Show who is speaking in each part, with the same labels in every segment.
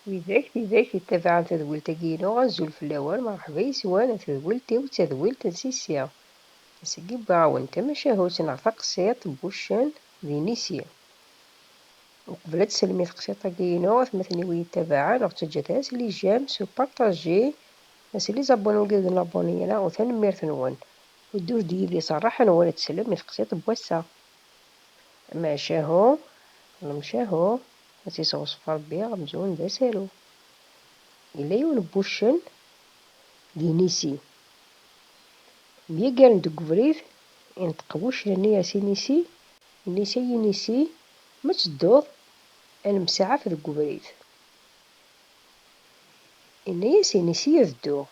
Speaker 1: Widak tidak yettabaɛen tadwilt-agi-inu, azul fell-awen, merrḥba yes-wen, a tadwilt-iw, d tadwilt n Sisi. Ass-agi wwiɣ-awen-d tamacahut neɣ taqsiḍt n wuccen d inisi. Uqbel ad d-selmi teqsiḍt-agi-inu, atmaten-iw i yi-ittabaɛen, ur ttaǧǧat ara s lijam, s upartaji, a s les abonulgues de l'abonniera, u tanemmirt-nwen. Uddut-d yid-i s rraḥa-nwen ad teslem i teqsiḍt n wass-a. Amacahu, lemcahu, Ad tt-isewṣef Ṛebbi, amzun d asaru. Yella yiwen n wuccen d inisi. Myagaren deg ubrid, inṭeq wuccen-nni a s-inisi, inisi ay inisi, ma ttedduḍ ad nemsaɛaf deg ubrid. Yenna-as inisi ad dduɣ.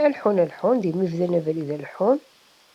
Speaker 1: A leḥḥun a leḥḥun, d imi bdan abrid a leḥḥun.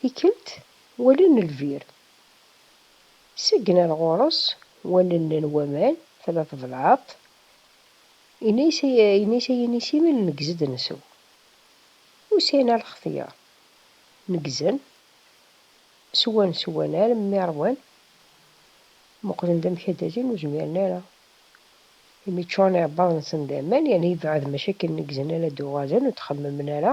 Speaker 1: Tikkelt wallen lbir. Seggen ar ɣur-s wallen n waman, tella tebelɛeḍt. Yenna-yas yenna-yas a Yinisi-m neggez-d nsew. Ur sɛin ara lxetyar. Neggzen, swan swan armi ṛwan. Muqlen-d amek ad d-alin ur zmiren ara. Imi ččuren iɛebbaḍ-nsen d aman, yerna yebɛed maca akken neggzen ara d-uɣalen ur d-xemmemen ara.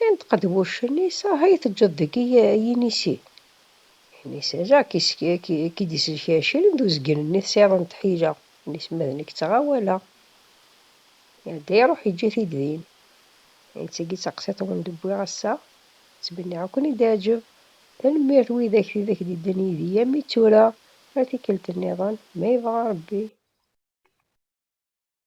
Speaker 1: Yenṭeq-d wuccen, Is aha i teǧǧeḍ deg i yinisi? Inisi, Jack, is ki d-iselk acil d uzgen-nni tesɛiḍ n tḥila, inisi, Ma d nekk ttɣawaleɣ. Iɛedda iruḥ yeǧǧa-t-id din. Ayen d tagi d taqsiḍt i wen-d-wwiɣ ass-a. Ttmenniɣ ad ken-id-teɛǧeb. Tanemmirt widak tidak d-yeddan yid-i armi d tura. Ar tikkelt nniḍen, ma yebɣa Rebbi.